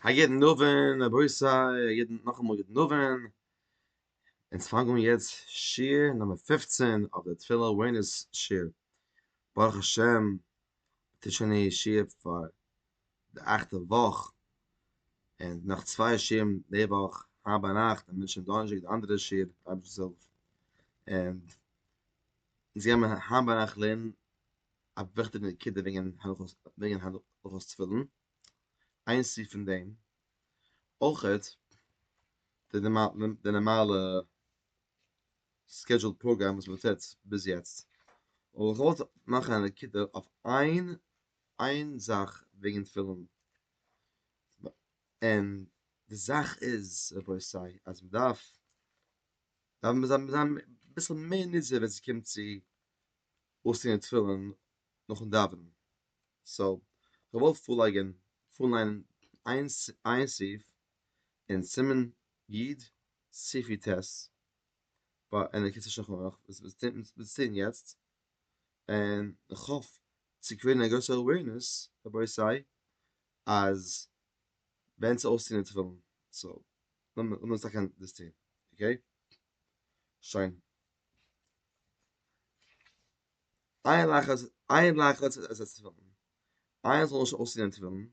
א יעדן נובען רבותי א יעדן נאכאמאל גוט נובען אונז פאנגען יעצט שיעור נומער פֿופֿצן אויף די תפילה אווערנעס שיעור ברוך השם ס'איז שוין די שיעור פאר די אכטע וואך און נאך צוויי שיעורים די וואך היינט ביינאכט און מ'שוין דאנערשטאג די אנדערע שיעור און אונז גיימער היינט ביינאכט לערנען א וויכטיגע נקודה וועגן וועגן הלכות תפילין, איין סעיף פון דעם, אויכעט די די נארמאלע סקעדזשועל פראגראם וואס מען טוט ביז יעצט, אבער איך וואלט מאכן א נקודה אויף איין איין זאך וועגן תפילין, און די זאך איז רבותי אז מען דארף דארף מען זיין אביסל מער נזהר ווען ס'קומט צו אויסצוהערן די תפילין נאכן דאווענען, סאו איך וועל פארלייגען פארן ליינען איין איין סעיף אין סימן יד סעיפי ט' ביי ענק כסא שלחן ערוך וואס וואס טוט מען וואס טוט מען יעצט, און איך האף צו קריעטן א גרויסע אווערנעס רבותי אז ווען צו אויסצוהערן די תפילין, סאו לאמיר עס טאקע דאס טוהן, אקעי? שוין. איין לאך אז איין לאך אז עס איז פון איין זאל נישט אויסזען אין תפילין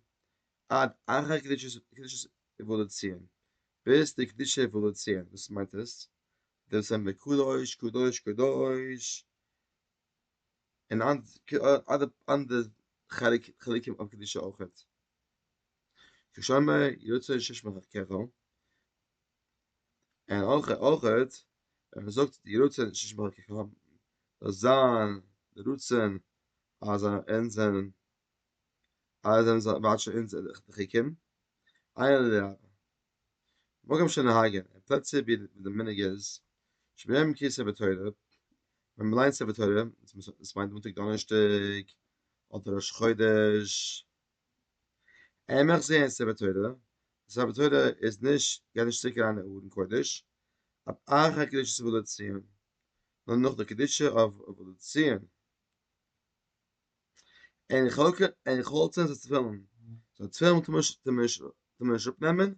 עד אחר קדושת קדושת עוואלוציע ביז די קדושת עוואלוציע וואס מיינט עס דער וואס זענען די קדוש קדוש קדוש און אנדערע אנדערע חלקים אויף קדושה אויכעט כשמע יוצא שש מרחקך און אויכעט ווען מען זאגט יהי רצון השם באלקיכם, זאל זיין די רצון אז אונז זענען אז זיי וואטשן אונז די חוקים, עיין לרבה. מקום שנהגין, אין פלעצער ווי די מנהג איז, שביום קרי ספר תורה, ווען מען ליינט ספר תורה, דאס מיינט מאנטאג דאנערשטאג, אדער ראש חודש, עמך זעהן ספר תורה, ספר תורה איז נישט גייט נישט צוריק אריין אין ארון קודש, אויף אחרי קדושת אבלות ציון, נאר נאך די קדושת אבלות ציון, אין חלצה זיצט תפילין, זאל תפילין טאר מען נישט אפנעמען,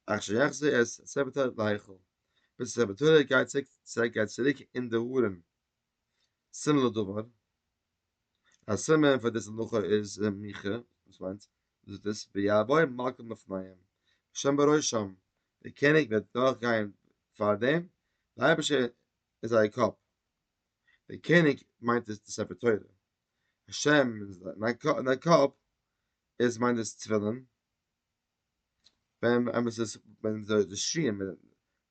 אכ ש יחזיר את ספר תורה להיכל, ביז ספר תורה גייט צוריק אין די ארון. סימן לדבר, א סימן פאר דאס הלכה איז אין מיכה, וואס מיינט דאס? ויבואו מלכות בפניהם, השם בראשם, דער קעניג וועט דורכגיין פאר דעם, דער אייבערשטער איז זייער קאפ, דער קעניג מיינט דאס די ספר תורה, השם איז זיין קאפ, דאס מיינט דאס תפילין, ווען אמת איז ווען די שיעור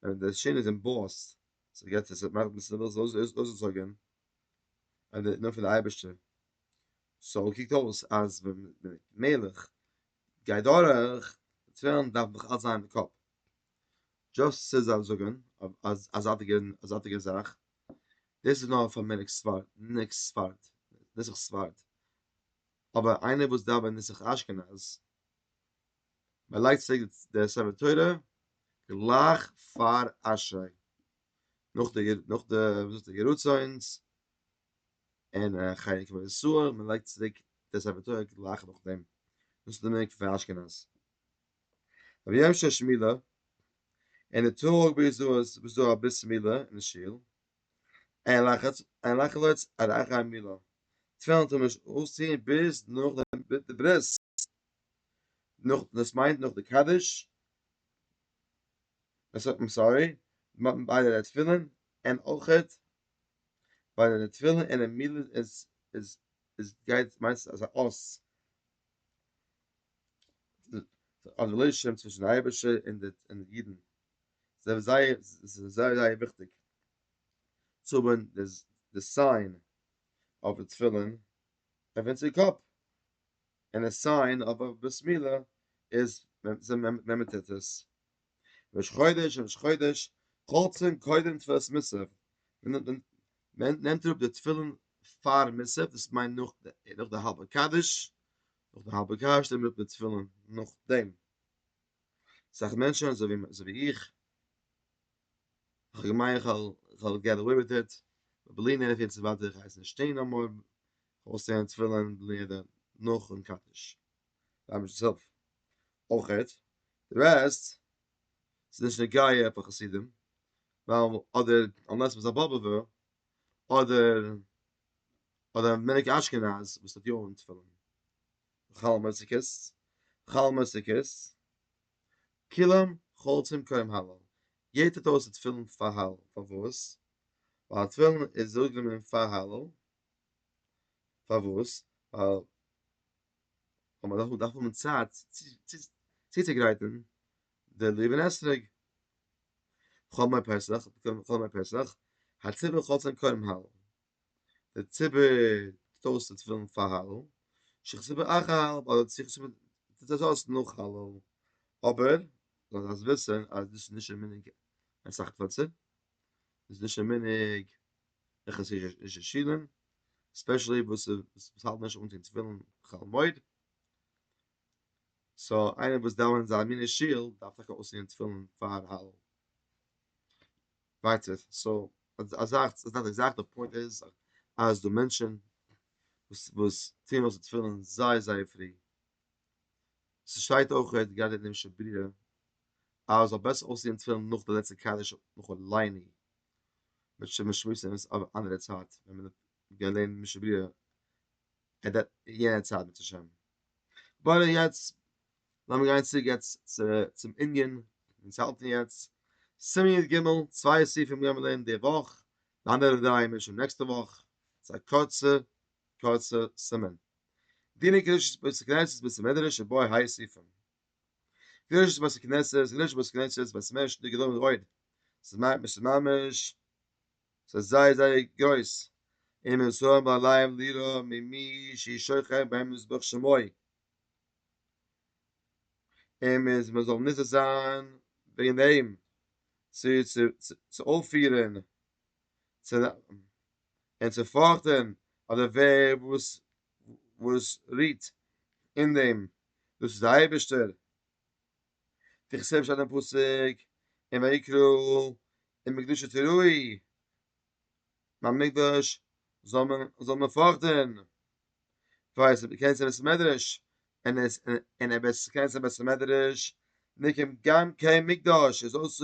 ווען די שיעור איז אין בויעט סאו יעצט איז עס מאכט מען עס אויסגעזויגען און די נאמען פון די אייבערשטער סאו קוקט אויס אז ווען די מלך גייט דורך די תפילין דארף נאך אלץ זיין אין די קאפ דזשאסט צו זיי זאגען א זייטיגע א זייטיגע זאך דאס איז נאר פאר מנהג ספרד מנהג ספרד נוסח ספרד אבער איינער וואס דאווענט נוסח אשכנז מען לייגט צו די ספר תורה גלייך פאר אשרי נאך די נאך די וואס איז די גערצוינס אין חיי קבע ישראל מען לייגט צו די ספר תורה גלייך נאך דעם דאס איז די מנהג פון אשכנז רבי יום ששמילה אין די טאג ווי איז דא וואס דא א ביס מילה אין די שול אין לחץ אין לחץ עד אחרי מילה צוויי און צוואנציג אויס צו ביז נאך די ברית נאך נאך דאס מיינט נאך די קדיש עס האט מען סארי מ'האט ביי די תפילין און אויכעט ביי די תפילין און מילה איז איז איז גייט מיינסט אז א אות אז די לוישען צווישן די אייבערשטער און די און די אידן זיי זייער זיי זייער וויכטיג צו האבן די סיין אויף די תפילין אויף אונזער קאפ און עס סיין אבער ברית מילה איז ווען מען טוט עס ראש חודש ראש חודש חולצים קודם תפילת מוסף מען נעמט אראפ די תפילין פאר מוסף דאס מיינט נאך די האלבע קדיש נאך די האלבע קדיש נעמט מען אראפ די תפילין נאכדעם אסאך מענטשען אזוי ווי איך איך האב געמיינט איך וועל געט עוועי וויט איט בלי נדר איך ווייס נישט שטיין נאר מאר אויסצוהערן תפילין בלי נדר נאכן קדיש, די אייבערשטער'ס הילף, אויכעט די רעסט איז נישט נוגע פאר חסידים, ווייל אדער אנלעס מ'איז א באבוב'ער, אדער אדער א מנהג אשכנז וואס האט יא אן תפילין, חל מוסיקות, חל מוסיקות, כולם חולצים כהים הלל, יעדער טוט אויס די תפילין פאר הלל, פארוואס? ווייל א תפילין איז אויסגענומען פאר הלל, פארוואס? ווייל ווען מען דארף האבן צייט צוצוגרייטן די לולב און אתרוג, כל מי פסח, כל מי פסח, הציבור חותם קודם הלל, דער ציבור טוט אויס די תפילין פאר הלל, שכתוב אחר הלל, אדער צו כתוב, טוט עס אויס נאך הלל, אבער זאלסט וויסן אז דאס איז נישט די מנהג אין אסאך פלעצער. איז נישט א מנהג אין חסידישע שילן, ספעשעלי וואס וואס האלטן נישט אנטון תפילין חול המועד, סא איינער וואס דאווענט אזא מינע שול דארף טאקע אויסטון תפילין פאר הלל ווייטער סא אזאלכע זאכן, די פוינט איז אז די מענטשן וואס טוען אויס די תפילין זייער זייער פרי, ס'שטייט אויכעט גראדע אין אמשע ברירה אז עס זאל בעסער אויסזעהן תפילין נאך די לעצטע קדיש וכו' לעיני מיט שמות שמות אמת אויף אנדערע צייט ווען מען האט געליינט משנה ברורה עט דעט יענע צייט בעז השם באט יעצט לאמיר גיין צוריק יעצט צום ענין ווי אונז האלטן יעצט סימן י ג צוויי סעיפים גיימער לערנען די וואך די אנדערע דריי מער שוין נעקסטע וואך ס'איז א קורצע קורצע סימן דיני קדושת בית הכנסת בית המדרש ובו היי סעיפים. ווי אויך איז בית הכנסת איז נישט בית הכנסת בית מש די גענוי רויד ס'איז מיין מ'איז ממש ס'איז זייער זייער גרויס אין מיר זאל האבן עליהם ליראה ממי שהיא שוכח בהם מזבח שמיא אין מיר איז מ'זאל נזהר זיין וועגן דעם צו צו אויפירען צו און צו פארכטען אדער ווער וואס וואס רוהט אין דעם דאס איז די אייבערשטער, תיכף שטייט אין פסוק אין ויקרא אין מקדשו תראי, ביים מקדש זאל מען זאל מען פארכטען, ווייס ווער קען ס'בית המדרש אין עס אין ער וועט קען ס'בית המדרש מכם גם כן מקדש איז אויס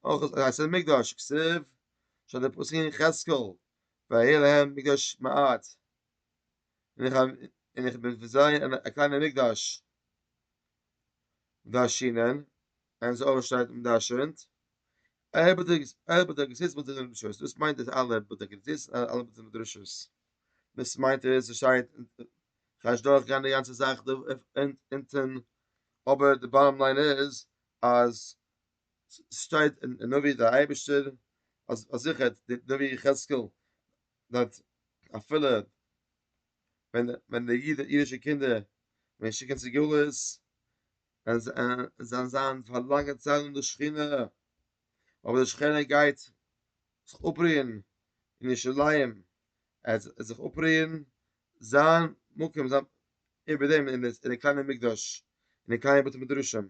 אויך אז עס איז מקדש כסף שטייט אין פסוק אין יחזקאל והיה להם מקדש מעט, און איך בין פון זיי א קליינער מקדש דארשינען, און עס אויך שטייט אומדארשינט, ער בדק זיס בתי מדרשות, דאס מיינט אז אלע בדק זיס און אלע בתי מדרשות, דאס מיינט אז עס שטייט, כאטש דורך גיין די גאנצע זאך אונטן, אבער די באטאם ליין איז אז ס'שטייט אין נביא דער אייבערשטער אז אז זיכער האט די נביא יחזקאל דארט אפילו ווען ווען די איד אידישע קינדער ווען שיקן צו גלות און זיי זיי זיין פאר לאנגע צייט אן די שכינה אבער די שכינה גייט זיך אפרוען אין ירושלים ער וועט זיך אפרוען זיין מקום זיין איבער דעם אין די קליינע מקדש אין די קליינע בתי מדרשים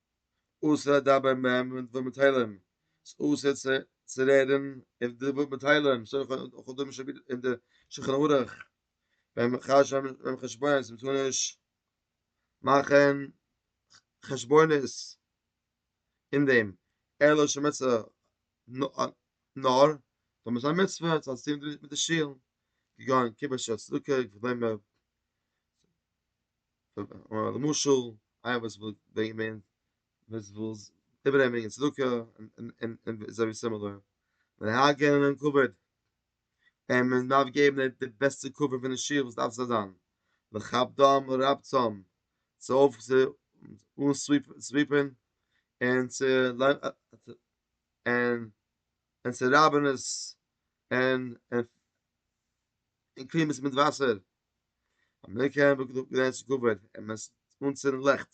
אסור לדבר בהם ווען מ'טוט מיט תהלים, ס'איז אסור צו רעדן און די וואס מיט תהלים, וכדומה שב ד אין די שולחן ערוך, ביים חשבון זאל מען נישט מאכן חשבונות אין דעם, אלא שמצוה נאר אויב עס איז א מצוה עס האט צו טון מיט די שול, כגון קידוש צדקה וכדומה. למשל איינער וואס וויל ברענגען מער וואס וויל איבערנעמען ברענגען צדקה און און און אזוי ווי סימילער להגן על כבוד און מען דארף געבן די בעסטע כבוד פון די שול וואס דארף זיך זיין לכבדם ולרבצם צו אויף צו אנ-סוויפען און צו און און צו רייבען עס און און קלין עס מיט וואסער. אמעריקע האט געזאגט געדענק צו קבר און מען איז אנצינדן לעכט.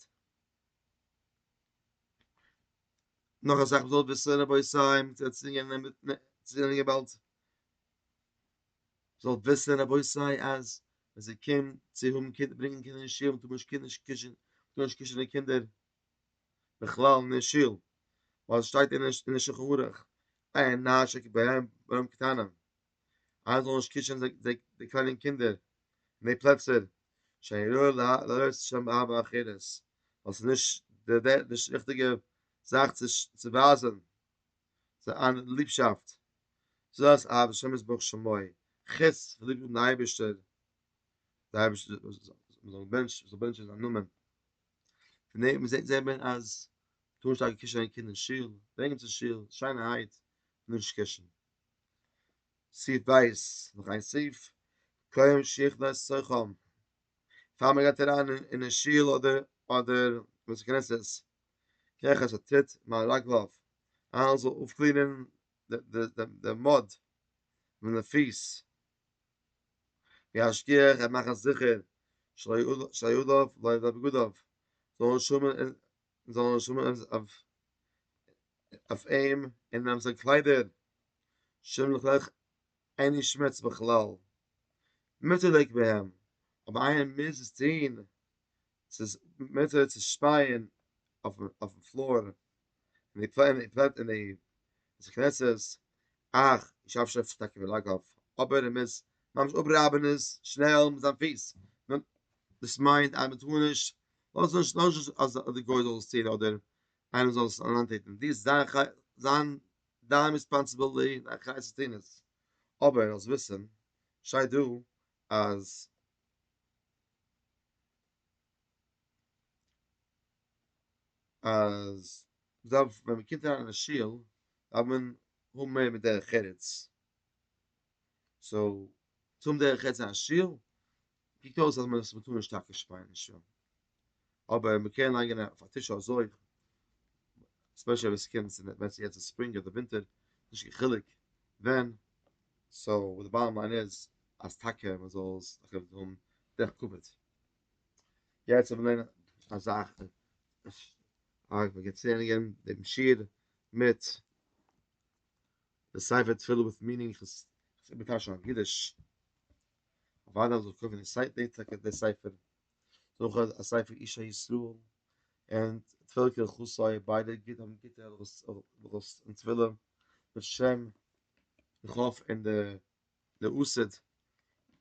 נאך אסאך וואס האט ביסער רבי סיי מיט צעצווינגען און מיט צענען געוואלד. זאל וויסען רבי סיי אז ווען זי קומט צו האבן קינדער ברענגען קינדער אין שול טאר מען נישט קינדער נישט קישן טאר נישט קישן די קינדער בכלל אין די שול ווייל עס שטייט אין די שולחן ערוך עיין נש ע כ ב א ב א ב קטנה. אז זאלן נישט קישן די קליינע קינדער אין די פלעצער שאין ראוי להעלות שם אב ואחרת ווייל ס'איז נישט די ריכטיגע זאך צו ווייזן זיין ליבשאפט זאת אהבת השם יתברך שמו חוץ כ'ליב דעם אייבערשטער די אייבערשטער זאל בענטשן זיין נאמען פון דעם זעט מען אז טאר נישט טאקע קישן קיינע קינדער אין שול ברענגען צו שול שיינערהייט נישט קישן סעיף בית, נאך איין סעיף, קוים שיכנס סוחם, פאר מען גייט אריין אין די שול אדער בית הכנסת, קרח אשר תית מעל רגליו, איינער זאל אויפקלינען די מוד פון די פיס, וישגיח ער מאכן זיכער שלא יעלוף לוי' בגדיו, זאל נישט שומען און זיינע נשמות אויף אים און אויף זיין קליידער, שמלכלעך אין נישט שמוץ בכלל, מוטערליק בהם, אבער איינער מוז עס טוהן, ס'איז מותר צו שפייען אויפן פלאר, אין די בית הכנסת, אך ישאף שופט טאקע בלאגאוו, אבער ער מוז ממש אפרייבען עס שנעל מיט זיין פיס, דאס מיינט אז מ'טאר נישט לאז נישט לאז נישט אז די גוי זאל עס טון אדער איינער זאל עס אריינטוטן, דו איז דיין חי זיין דיין ריספאנסעבילטי און דיין חיות צו טון עס, אבער זאלסט וויסן שטייט דא אז אז מ'דארף ווען מ'קומט אריין אין א שול דארף מען האבן מער מדרך ארץ, סאו צו האבן דרך ארץ אין א שול קוקט אויס אז מען עס מ'טאר נישט טאקע שפייען אין שוהל, אבער מען קען ליינגען אויף א טישו אזוי, ספעשעל ווען ס'קומט צו ווען ס'יעצט איז ספרינג אדער ווינטער, נישט קיין חילוק ווען, סאו די באטעם ליין איז אז טאקע מען זאל עס טאקע האבן דרך כבוד. יעצט וועל מען לערנען א זאך, אהה מ'גייט צולערנען דעם שיעור מיט די ספר תפילה וויט מינינג, איך האב עס איבערטייטשט אויף אידיש, אוודאי זאל איך קויפן די ספר, דורך אויך א ספר איש הישראל, און תפלה כהלכתה, ביידע גוט האבן גוטע הלכות אין תפלה, בשם איך האף אין די לעוסד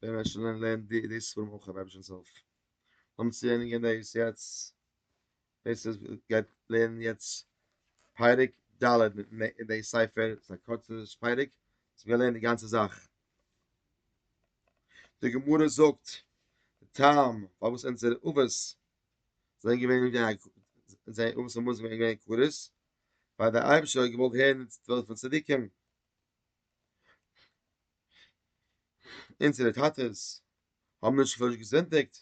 ווען מען שוין לערנט די ספרים אויך אויב אייבערשטנס הילף, לאמיר צו ענדיגען דאס יעצט. דאס איז גייט לערנען יעצט פרק ד' אין די ספר, ס'איז א קורצע פרק, ס'איז געלערנט די גאנצע זאך. די גמרא זאגט, די טעם פארוואס אונזערע אבות זענען געווען זיי אבות האבן מוזן ווען געווען כרות, ווייל דער אייבערשטער האט געוואלט הערן די תפילות פון צדיקים. אונזערע טאטעס האבן נישט פארזענדיגט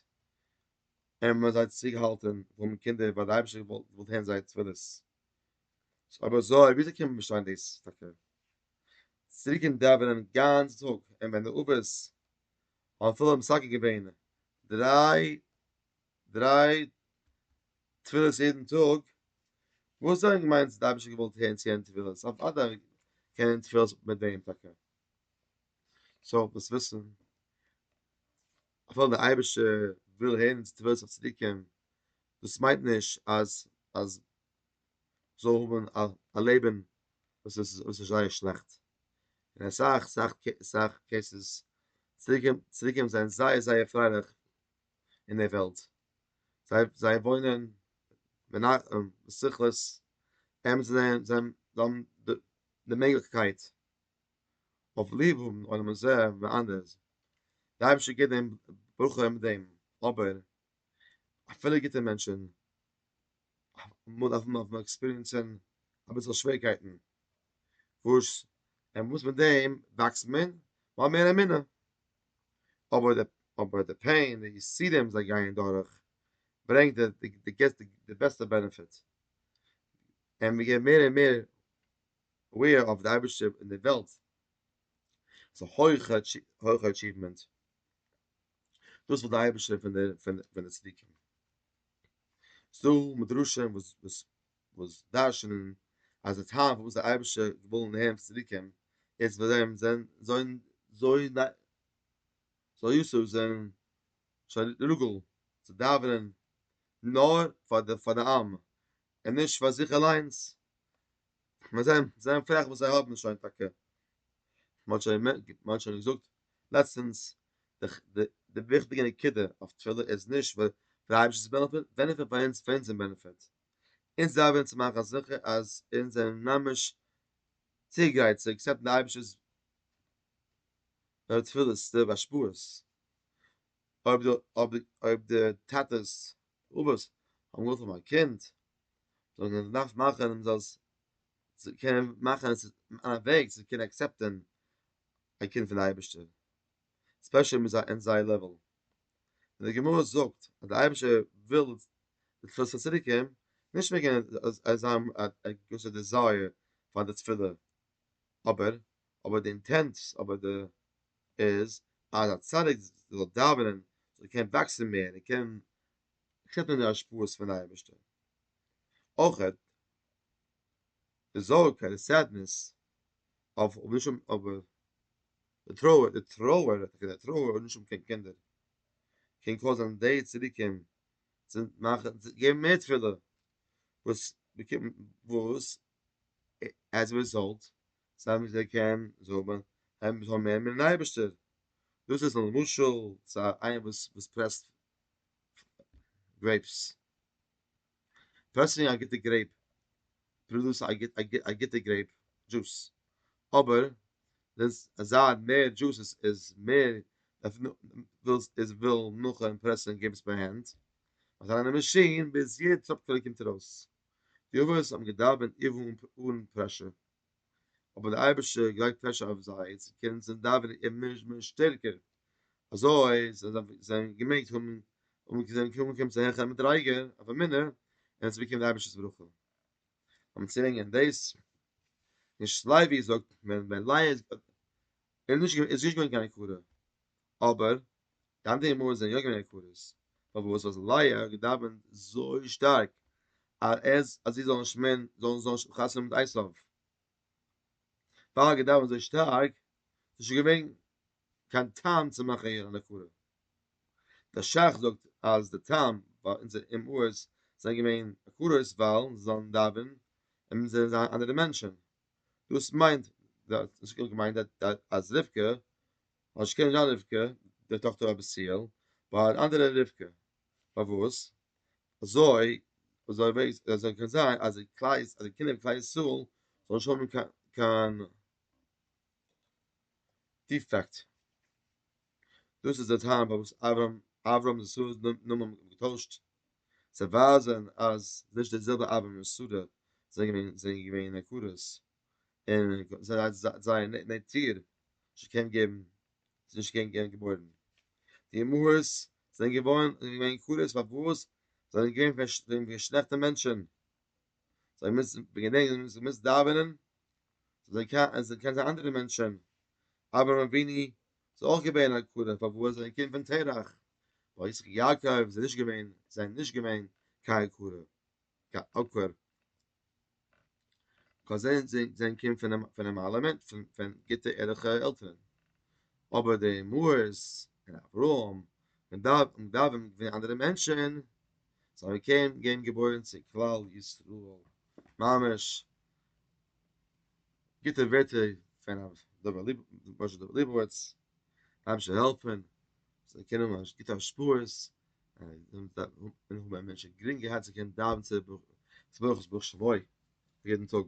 און מען האט זיי צוריק געהאלטען פון די קינדער ווייל די אייבישטער האט געוואלט הערן זייער תפילות. אבער זוי ווי אזוי קען מען באשטיין דאס טאקע? צוריקען דאווענען גאנץ טאג און ווען די אבות האבן אפילו מסגל געווען דריי דריי תפילות יעדן טאג, וואס דען מיינטס די אייבישטער האט געוואלט הערן צו יענע תפילות? אוודאי קען מען תפילות מיט דעם טאקע. סאו דאס וויסען. אפילו דער אייבערשטער וויל הערן אונזער תפלות אויף צדוקים, דאס מיינט נישט אז אז מ'זאל האבן א לעבן וואס איז וואס איז זייער שלעכט, אין אסאך אסאך אסאך קעיסעס צדוקים צדוקים זענען זייער זייער פרייליך אין דער וועלט, זיי זיי וואוינען מנחם בשכלות, זיי האבן די מעגליכקייט. אויף ליב האבן עולם הזה ואנדערס, די אייבערשטער געבט דעם ברכה מיט דעם, אבער אפילו גוטע מענטשן אמאל דארף מען אויף עקספיריענסען אביסעל שווערקייטן, וואס און וואס מיט דעם וואקסט מען, מ'האט מער אמונה, אבער די אבער די פעין די יסורים זיי גייען דורך ברענגט די די בעסטע בענעפיט, און מ'געבט מער און מער אוועיר אויף די אייבערשטער און די וועלט איז א הויכע הויכע אטשיוומענט, דאס וויל די אייבערשטער פון די פון די צדיקים, ס'איז דא מדרשים וואס וואס וואס דרש'נען אז די טעם פארוואס די אייבערשטער וויל נער'ן פון צדיקים איז ווייל זיי זענען זוין זוי ניי זוי יסור זענען שוין רוגל צו דאווענען נאר פאר די פאר די עם און נישט פאר זיך אליינס, מיר זעען, זעען פרעך וואס זיי האבן שוין טאקע. מען האט שוין, מען האט שוין געזאגט לעצטענס, די די וויכטיגע נקודה אויף תפילה איז נישט ווייל דער אייבערשטער איז בענעפיט, בענעפיט פאר אונז, פאר אונזער בענעפיט. אונז דארפן צו מאכן זיכער אז אונז זענען ממש צוגרייט צו עקסעפטן די אייבערשטער'ס תפילות, די השפעות. אויב די, אויב די, אויב די טאטע'ס באבעס האבן געוואלט האבן א קינד, זיי האבן געדארפט מאכן אז זיי קענען מאכן עס אין א וועג זיי קענען עקסעפטען א קינד פון די אייבערשטער, ספעשעל מיט זיי אין זייער לעוועל, און די גמרא זאגט אז די אייבערשטער וויל זיך צו צוריקערן, נישט וועגן אז זיי האבן א געוויסע דיזייער פאר די תפילה, אבער אבער די אינטענט, אבער די איז אז א צדיק זאל דאווענען זאל קענען וואקסן מער און קענען שעפן די השפעות פון אייבערשטער, אויך די זארג אדער סעדנעס אויף נישט האבן אבער די טרויער די טרויער טאקע די טרויער אויף נישט האבן קיין קינדער קען קויזען די צדיקים צו מאכן צו געבן מער תפילה וואס וואס עז א רעזאלט סיי וואס ער קען זאל מען האבן זאל מער מיטן אייבערשטער, דאס איז א משל צו איינער וואס וואס פרעסט גרעיפס, פרעסינג א גוטע גרעיפ פראדוסט א גוט א גוטע גרעיפ דזשוס, אבער דאס אזא מער דזשוס איז איז מער ווילסט איז וויל נאכען פרעסען גרעיפס ביי הענט אויף אן אנדער מאשין ביז יעדע טראפקעלע קומט ארויס, די אבות האבן געדאווענט איוו אן פרעשור. אבער דער אייבערשטער גלייגט פרעשור אויף זיי צו קענען זיין דאווענען און מער און מער שטערקער, אזוי זיי געמעגט האבן און זיי זענען קוים געקומען צו א העכערע מדריגה אויף אמונה און עס איז געקומען די אייבערשטער'ס ברכה. און צו ברענגען דאס, אין שלייווי זאגט מען ווען לייע איז נישט געווען קיין הכרה, אבער דאן די אמונה זענען יא געווען יקרות, פארוואס האט לאה געדאווענט זוי שטארק אז אז זי זאל נישט מער זאל זאל נישט האבן חתונה מיט עשיו? פאר האט געדאווענט אזוי שטארק, איז נישט געווען קיין טעם צו מאכן איר אן עקרה. דער שך זאגט אז די טעם פאר אונזער אמהות זענען געווען עקרות ווייל זיי זאלן דאווען און מיר זאלן זיין אנדערע מענטשן, דאס מיינט דאס האט געמיינט אז רבקה אז שכן זיין רבקה די טאכטער האט בסיעל ביי אן אנדערע רבקה פארוואס אזוי אזוי וועגס אזוי קען זיין אז די קלייס אז די קינדער פון כלל ישראל זאל נישט האבן קיין קיין דיפעקט דאס איז די טעם פארוואס אברהם אברהם איז סארס נאמען געטוישט צו ווייזען אז נישט די זעלבע אברהם און שרה זענען געווען זענען געווען עקרות און זייער נעטיר נישט געקענט געבן, זיי נישט געקענט געבן געבוירן. די אמהות זענען געווארן געווען כלות פארוואס זיי זענען געווען פון די שלעכטע מענטשן, זיי האבן געמוזט געדענקען זיי האבן געמוזט דאווענען, זיי זענען קיין זיי אנדערע מענטשן, אברהם אבינו איז אויך געווען א כלה פארוואס זיי זענען קינד פון תרח, ביי יצחק יעקב זענען נישט געווען זיי זענען נישט געווען קיין כלה, קיין עקור. קאן זיין זיין קינד פון פונעם אלעמען פון פון גוטע ערליכע עלטערן אבער די מוהרז און אברהם און דוד און דוד און די אנדערע מענטשען זיי האבן קען געווען געבוירן צו כלל ישראל ממש גוטע ווערטער פון דובער ליב משה דובער ליבוביץ הייבן שוין העלפן זיי קענען ממש גוטע השפעות און איך האב א מענטש גרינג געהאט צו קענען דאווען צו ברוך צו ברוך שבוי יעדן טאג